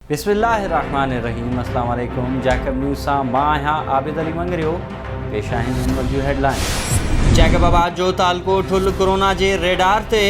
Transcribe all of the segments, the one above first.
بسم الله الرحمٰن الرحيم السلام عليڪم جيڪب نيوز سان مان آهيان عابد علي مڱريو پيش آهن هن وقت جون هيڊ لائنز جيڪب آباد جو تعلقو ٺل ڪورونا جي ريڊار تي.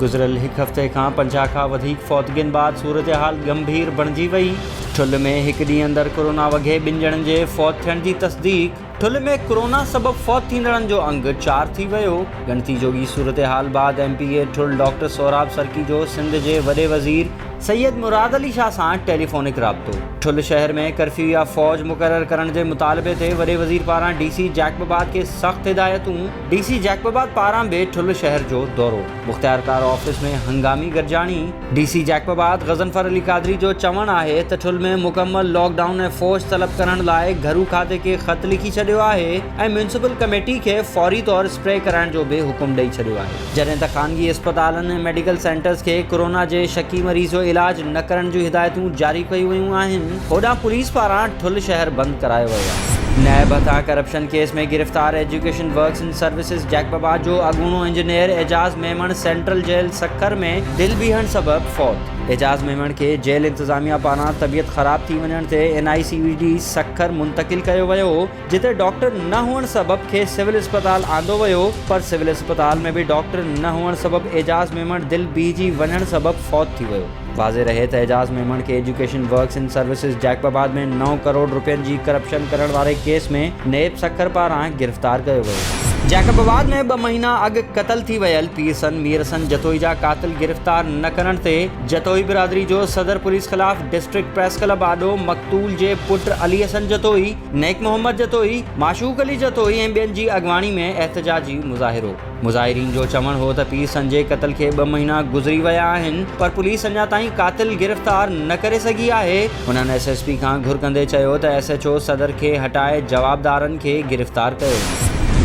گذريل هڪ هفتي کان پنجاهه کان وڌيڪ فوتگين بعد صورتحال ڳنڀير بڻجي وئي، ٺل ۾ هڪ ڏينهن اندر ڪورونا وگهي ٻن ڄڻن جي فوت ٿيڻ جي تصديق. ٺل ۾ ڪورونا سبب فوت ٿيندڙن جو انگ چار ٿي ويو، ڳڻتي جوڳي صورتحال بعد M P A Thul doctor Sohrab Sarki جو سنڌ جي وڏي وزير سيد مراد علي شاهه سان ٽيليفونڪ رابطو. ٺل شهر ۾ ڪرفيو يا فوج مقرر ڪرڻ جي مطالبي تي وڏي وزير پاران ڊي سي جيڪب آباد کي سخت هدايتون. ڊي سي جيڪب آباد پاران به ٺل شهر جو دورو، مختيارڪار آفيس ۾ هنگامي گڏجاڻي. ڊي سي جيڪب آباد غضنفر علي قادري جو چوڻ آهي ته ٺل ۾ مڪمل لاڪ ڊائون ۽ فوج طلب ڪرڻ لاء گهرو کاتي کي خط لکي ڇڏيو آهي ۽ ميونسپل ڪميٽي کي فوري طور اسپري ڪرائڻ جو به حڪم ڏئي ڇڏيو آهي جڏهن ته خانگي اسپتالن ۽ ميڊيڪل سينٽرز کي ڪورونا جي شڪي مريض جو علاج نه ڪرڻ جون هدايتون جاري ڪيون ويون آهن هوڏانهن پوليس پاران ٺل شهر بند ڪرايو ويو آهي. نيب هٿان ڪرپشن ڪيس ۾ گرفتار ايجوڪيشن ورڪس سروسز جيڪببا جو اڳوڻو engineer Ijaz Memon central jail Sukkur ۾ دل بيهڻ سبب فوت، اعجاز ميمڻ کي جيل انتظاميا پاران طبيعت خراب ٿي وڃڻ تي N I C V D Sukkur منتقل ڪيو ويو هو جتي ڊاڪٽر نه هئڻ سبب کيس سول اسپتال آندو ويو پر سول اسپتال ۾ به ڊاڪٽر نه هئڻ سبب اعجاز ميمڻ دل بيهجي وڃڻ سبب فوت ٿي ويو. واضح رهي ته اعجاز ميمڻ کي education works and services Jacobabad ۾ نو ڪروڙ رپين جي ڪرپشن ڪرڻ واري ڪيس ۾ نيب سکر پاران گرفتار ڪيو ويو. جيڪب آباد ۾ ٻه مهينا اڳ قتل ٿي ويل پير سن مير سن جتوئي جا قاتل گرفتار نه ڪرڻ تي جتوئي برادري جو صدر پوليس خلاف ڊسٽرڪٽ پريس ڪلب آڏو مقتول جي پٽ علي حسن جتوئي، نيڪ محمد جتوئي، معشوق علي جتوئي ۽ ٻين جي اڳواڻي ۾ احتجاجي مظاهرو. مظاهرين جو چوڻ هو ته پيء سنجي قتل کي ٻه مهينا گذري ويا آهن پر پوليس اڃا تائين قاتل گرفتار نه ڪري سگهي آهي. هنن ايس ايس پي کان گهر ڪندي چيو ته ايس ايڇ او صدر کي هٽائي جوابدارن کي گرفتار ڪيو.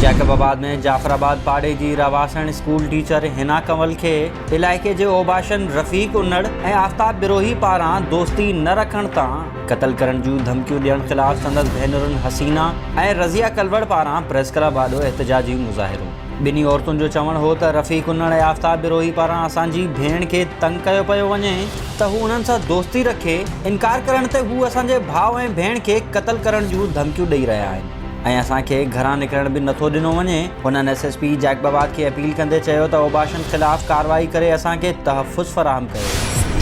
جيڪب آباد ۾ جعفر آباد پاڙي جي رهواسڻ اسڪول ٽيچر حنا ڪنول کي علائقي جي اوباشن رفيق انڙ ۽ آفتاب بروهي پاران دوستي نه رکڻ تان قتل ڪرڻ جون ڌمڪيون ڏيڻ خلاف سندس ڀينرن حسينا ۽ رضيه ڪلوڙ پاران پريس ڪلب آڏو احتجاجي مظاهرو. ٻنهي عورتن جو چوڻ هو ته رفيع ڪنڙ ۽ آفتاب بروهي پاران اسان جي ڀيڻ کي تنگ ڪيو پيو وڃي ته هو انهن سان دوستي رکي، انڪار ڪرڻ تي هو اسان جي ڀاء ۽ ڀيڻ کي قتل ڪرڻ جون ڌمڪيون ڏئي رهيا آهن. ۽ اسان کي گهران نڪرڻ به نٿو ڏنو وڃي. هنن S S P Jacobabad کي اپيل ڪندي چيو ته اوباشن خلاف ڪارروائي ڪري اسان کي تحفظ فراهم ڪيو.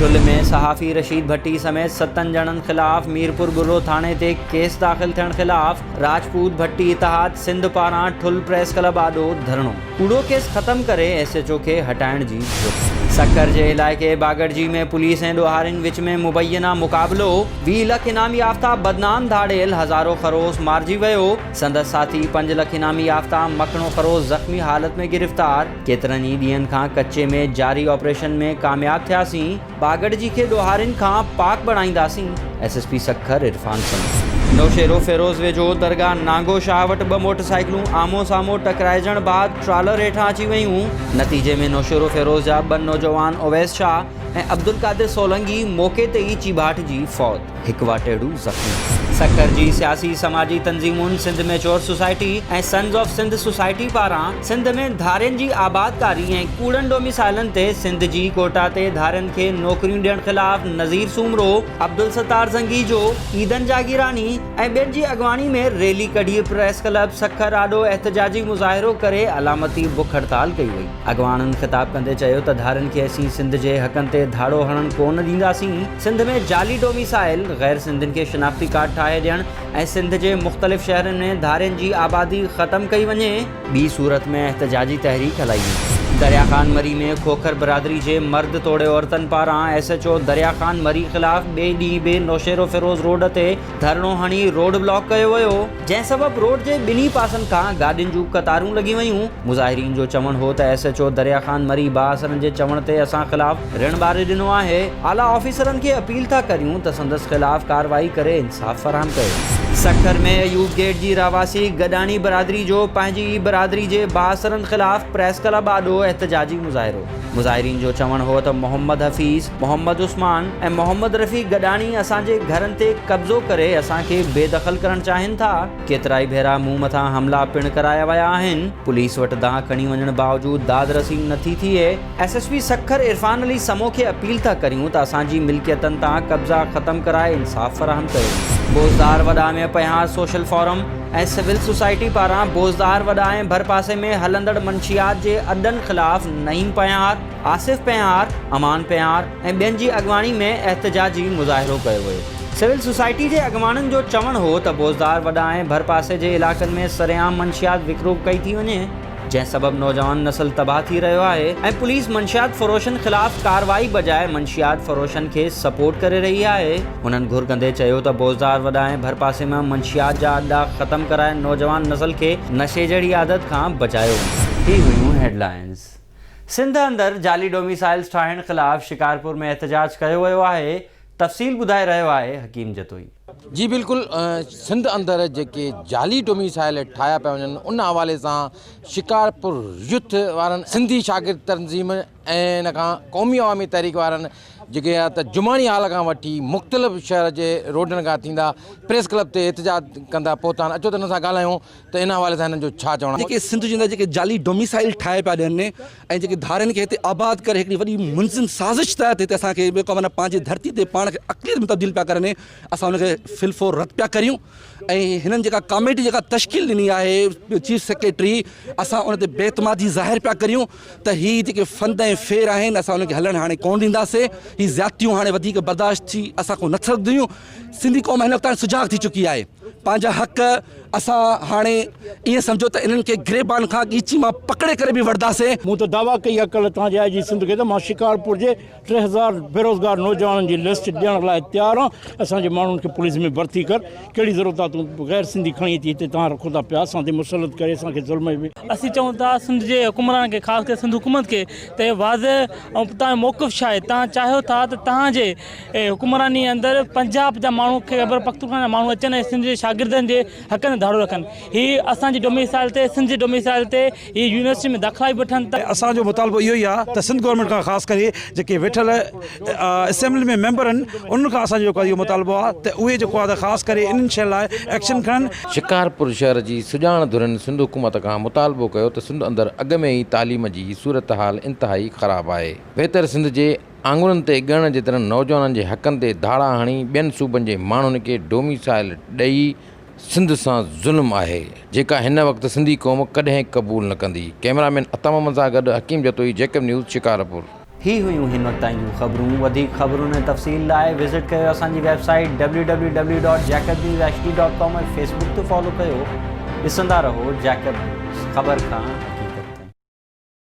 چل ۾ صحافي رشيد ڀٽي سميت ستن ڄڻن خلاف ميرپور ڳرو ٿاڻي تي ڪيس داخل ٿيڻ خلاف راجپوت ڀٽي اتحاد سنڌ پاران ٺل پريس ڪلب آڏو ڌرڻو. ڪوڙو ڪيس ختم ڪري ايس ايڇ او کي هٽائڻ جي گهرج. سکر جي علائقي باگڙجي ۾ پوليس ۽ ڏوهارين وچ ۾ مبينا مقابلو، ويهه لک انعام يافته بدنام ڌاڙيل هزارو خروس مارجي ويو، سندس ساٿي پنج لک انعام يافته مکڻو خروس زخمي حالت ۾ گرفتار، ڪيترن ئي ڏينهن کان ڪچي ۾ جاري آپريشن ۾ ڪامياب ٿياسين. باگڙجي کي ڏوهارين کان پاڪ بڻائينداسين، S S P Sukkur Irfan سميت. نوشهروفيروز ويجهو درگاهه نانگو شاهه وٽ ٻه موٽر سائيڪلون آمهون سامهون ٽڪرائجڻ بعد ٽرالر هيٺان اچي ويون، نتيجي ۾ نوشهروفيروز جا ٻه نوجوان اويس شاهه ۽ عبدالقادر سولنگي موقعي تي ئي چيڀاٽجي فوت. هڪ واٽهڙو زخمي. سکر جي سياسي سماجي تنظيمون Sindh mature society ۽ sons of Sindh society پاران سنڌ ۾ ڌارين جي آبادڪاري ۽ ڪوڙن ڊوميسائلن تي سنڌ جي ڪوٽا تي ڌارين کي نوڪريون ڏيڻ خلاف نظير سومرو، عبدالستار زنگيجو، عيدن جاگيراڻي ۽ ٻين جي اڳواڻي ۾ ريلي ڪڍي پريس ڪلب سکر آڏو احتجاجي مظاهرو ڪري علامتي بک هڙتال ڪئي وئي. اڳواڻن خطاب ڪندي چيو ته ڌارين کي اسين سنڌ جي حقن تي ڌاڙو هڻڻ ڪو نه ڏينداسين، سنڌ ۾ جعلي ڊوميسائل، غير سنڌين کي شناختي ڪارڊ ٺاهي ڏيڻ ۽ سنڌ جي مختلف شهرن ۾ ڌارين جي آبادي ختم ڪئي وڃي، ٻي صورت ۾ احتجاجي تحريڪ هلائي ويندي. دريا خان مري ۾ کوکر برادري جي مرد توڙي عورتن پاران S H O Darya Khan Marri خلاف ٻئي ڏينهن به نوشهروفيروز روڊ تي ڌرڻو هڻي روڊ بلاڪ ڪيو ويو، جنهن سبب روڊ جي ٻنهي پاسن کان گاڏين جون قطارون لڳي ويون، مظاهرين جو چوڻ هو ته S H O Darya Khan Marri بااثرن جي چوڻ تي اسان خلاف رڻ ٻاري ڏنو آهي، اعليٰ آفيسرن کي اپيل ٿا ڪريون ته سندس خلاف ڪارروائي ڪري انصاف فراهم ڪيو. سکر ۾ ايوب گيٽ جي رهواسي گڏاڻي برادري جو پنهنجي ئي برادري جي بااثرن خلاف پريس ڪلب آڏو احتجاجي مظاهرو، مظاهرين جو چوڻ هو ته محمد حفيظ، محمد عثمان ۽ محمد رفيق گڏاڻي اسان جي گهرن تي قبضو ڪري اسان کي بي دخل ڪرڻ چاهين ٿا، ڪيترائي ڀيرا مون مٿان حملا پڻ ڪرايا ويا آهن، پوليس وٽ دانهن کڻي وڃڻ باوجود داد رسي نه ٿي ٿئي، S S P Sukkur Irfan Ali Samoon کي اپيل ٿا ڪريون ته اسان جي ملڪيتن تان قبضا ختم ڪرائي انصاف فراهم ڪيو. Bozdar Wada ۾ Panhwar social forum ۽ civil society پاران بوزدار وڏا ۽ ڀرپاسي ۾ هلندڙ منشيات جي اڏن خلاف نعيم پنهار، آصف پنهار، امان پنهار ۽ ٻين جي اڳواڻي ۾ احتجاجي مظاهرو ڪيو ويو. سول سوسائٽي جي اڳواڻن جو چوڻ هو ته بوزدار وڏا ۽ ڀرپاسي جي علائقن ۾ سرعام منشيات وڪرو ڪئي ٿي وڃي، جنهن سبب نوجوان نسل تباهه ٿي رهيو آهي ۽ پوليس منشيات فروشن خلاف ڪارروائي بجاء منشيات فروشن کي سپورٽ ڪري رهي آهي. هنن گهر ڪندي چيو ته بوزدار وڏا ۽ ڀرپاسي مان منشيات جا اڏا ختم ڪرائي نوجوان نسل کي نشي جهڙي عادت کان بچايو وڃي. هي هيون هيڊلائينز. سنڌ اندر جعلي ڊوميسائلز ٺاهڻ خلاف شڪارپور ۾ احتجاج ڪيو ويو آهي، تفصيل ٻڌائي رهيو آهي حڪيم جتوئي. جي بلڪل سنڌ اندر جيڪي جعلي ڊوميسائل ٺاهيا پيا وڃن ان حوالي سان شڪارپور يوٿ وارن سنڌي شاگرد تنظيم ۽ ان کان قومي عوامي تحريڪ وارن جيڪي يا ته جماڻي هال کان وٺي مختلف شهر جي روڊن کان ٿيندا پريس ڪلب تي احتجاج ڪندا پهتا آهن اچو ته ان سان ڳالهايون ته ان حوالي سان هنن جو ڇا چوڻ آهي؟ جيڪي سنڌ جي اندر جيڪي جعلي ڊوميسائل ٺاهي پيا ڏين ۽ جيڪي ڌارين کي هتي آباد ڪري هڪڙي وڏي منظم سازش تحت هتي اسان کي ٻيو ڪم نه پنهنجي ڌرتي تي پاڻ کي اقليت ۾ تبديل پيا ڪرن اسان ان کي في الفور رد پيا ڪريون ۽ هنن جيڪا ڪاميٽي جيڪا تشڪيل ڏني آهي چيف سيڪريٽري اسان ان تي بي اعتمادي ظاهر پيا ڪريون ته هي جيڪي فند ۽ ڦير آهن اسان ان کي هلڻ هاڻي ڪونه ڏينداسي هي زيادتيون هاڻي وڌيڪ برداشت ٿي اسان کون نه سگهنديون سنڌي قوم هن وقت هاڻي سجاڳ ٿي چڪي آهي. پنهنجا حق اسان هاڻي ائين سمجهو ته انهن کي گريبان کان ڳيچي مان پڪڙي ڪري به وڙهنداسين. مون ته دعويٰ ڪئي آهي ڪلهه تان جي آء جي سنڌ کي ته مان شڪارپور جي ٽي هزار بيروزگار نوجوانن جي لسٽ ڏيڻ لاء تيار آهان، اسان جي ماڻهن کي پوليس ۾ ڀرتي ڪر، ڪهڙي ضرورت آهي تون غير سنڌي کڻي اچي هتي تان رکو ٿا پيا اسان تي مسلط ڪري اسان کي ظلم ۾. اسين چئون ٿا سنڌ جي حڪمرانن کي خاص ڪري سنڌ حڪومت کي ته هي واضح ۽ تنهنجو موقف ڇا آهي تنهن چاهيو ٿا ته تنهن جي اي حڪمراني اندر پنجاب جا ماڻهو خيبرپختونخوا جا ماڻهو اچن ۽ سنڌ جي شاگردن جي حقن تي ڌاڙو رکن هي اسان جي ڊوميسائل تي سنڌ جي ڊوميسائل تي هي يونيورسٽي ۾ داخلا به وٺن ته اسان جو مطالبو اهو ئي آ ته سنڌ گورنمينٽ کان خاص ڪري جيڪي ويٺل اسيمبلي ۾ ميمبر ان انهن کان اسان جو جيڪو اهو مطالبو آ ته اهي جيڪو آ ته خاص ڪري انهن شين لاء ايڪشن کڻن. شڪارپور شهر جي سڄاڻ ڌرين سنڌ حڪومت کان مطالبو ڪيو ته سنڌ اندر اڳ ۾ ئي تعليم جي صورتحال انتهائي خراب آهي بهتر سنڌ جي آڱرين تي ڳڻڻ جيترن نوجوانن جي حقن تي ڌاڙا هڻي ٻين صوبن جي ماڻهن کي ڊوميسائيل ڏئي سنڌ سان ظلم آهي جيڪا هن وقت سنڌي قوم ڪڏهن قبول نه ڪندي ڪئميرا مين عطا محمد سان گڏ حڪيم جتوئي جيڪب نيوز شڪارپور. هي هيون هن وقت تائين جون خبرون وڌيڪ خبرن ۽ تفصيل لاء وزٽ ڪيو اسان جي website W W W dot Jacob news H D dot com ۽ Facebook تي فالو ڪيو ڏسندا رهو جيڪب نيوز خبر کان حقيقت تائين.